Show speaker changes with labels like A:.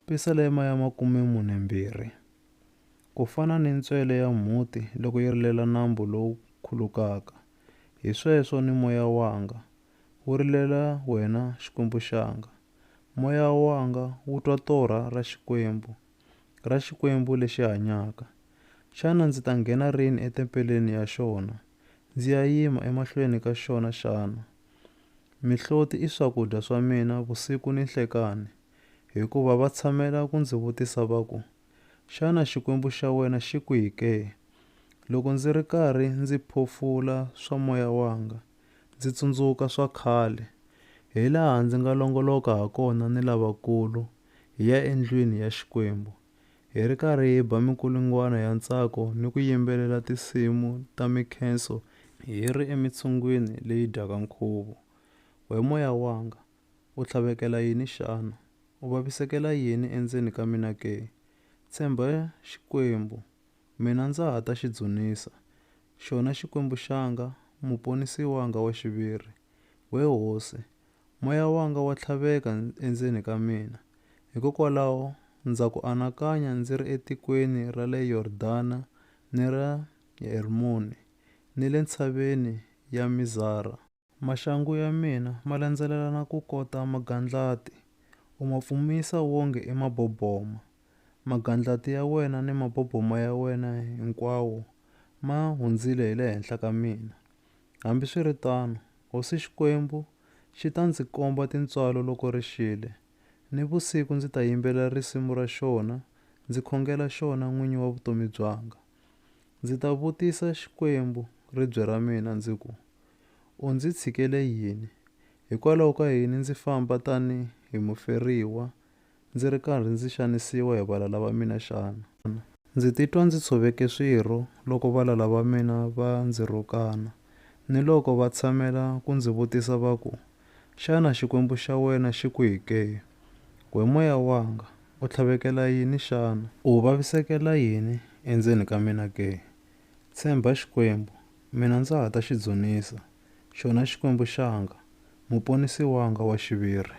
A: Pisalema ya makume mune mbirhi. Ku fana ni ntswele ya mhuti loko yi rilela nambu lowu khulukaka, hi sweswo ni moya wanga wu rilela wena Xikwembu xanga. Moya wanga wu twa torha ra Xikwembu, ra Xikwembu lexi hanyaka. Xana ndzi ta nghena rini etempeleni ya xona, ndzi ya yima emahlweni ka xona xana? Mihloti i swakudya swa mina vusiku ni nhlekani. hikuva va tshamela ku ndzi vutisa va ku, Xana Xikwembu xa wena xi kwihi ke? Loko ndzi ri karhi ndzi phofula swa moya wanga, ndzi tsundzuka swa khale, hilaha ndzi nga longoloka hakona ni lavakulu hi ya endlwini ya Xikwembu, hi ri karhi hi ba minkulungwana ya ntsako ni ku yimbelela tinsimu ta minkhenso hi ri emitshungwini leyi dyaka nkhuvo. We moya wanga, U tlhavekela yini xana? U vavisekela yini endzeni ka mina ke? Tshemba Xikwembu, mina ndza ha ta xi dzunisa, xona Xikwembu xanga, Muponisi wanga wa xiviri. We Hosi, moya wanga wa tlhaveka endzeni ka mina, hikokwalaho ndza ku anakanya ndzi ri etikweni ra le Yordana ni ra Hermoni, ni le ntshaveni ya Mizara. Maxangu ya mina ma landzelelana ku kota magandlati, u ma pfumisa wonge i maboboma. Magandlati ya wena ni maboboma ya wena hinkwawo ma hundzile hi le henhla ka mina. Hambiswiritano, hosi Xikwembu xi ta ndzi komba tintswalo loko ri xile. Nivusiku ndzi ta yimbelela risimu ra xona, ndzi khongela xona n'winyi wa vutomi byanga. Ndzi ta vutisa Xikwembu ribye ra mina ndzi ku, U ndzi tshikele yini? Hikwalaho ka yini ndzi famba tani hi muferiwa ndzi ri karhi ndzi xanisiwa hi valala va mina xana? Ndzi titwa ndzi tshoveke swirho loko valala va mina va ndzi rhukana, ni loko va tshamela ku ndzi vutisa va ku, Xana Xikwembu xa wena xi kwihi ke? We moya wanga, U tlhavekela yini xana? U vavisekela yini endzeni ka mina ke? Tshemba Xikwembu, mina ndza ha ta xi dzunisa, xona Xikwembu xanga, Muponisi wanga wa xiviri.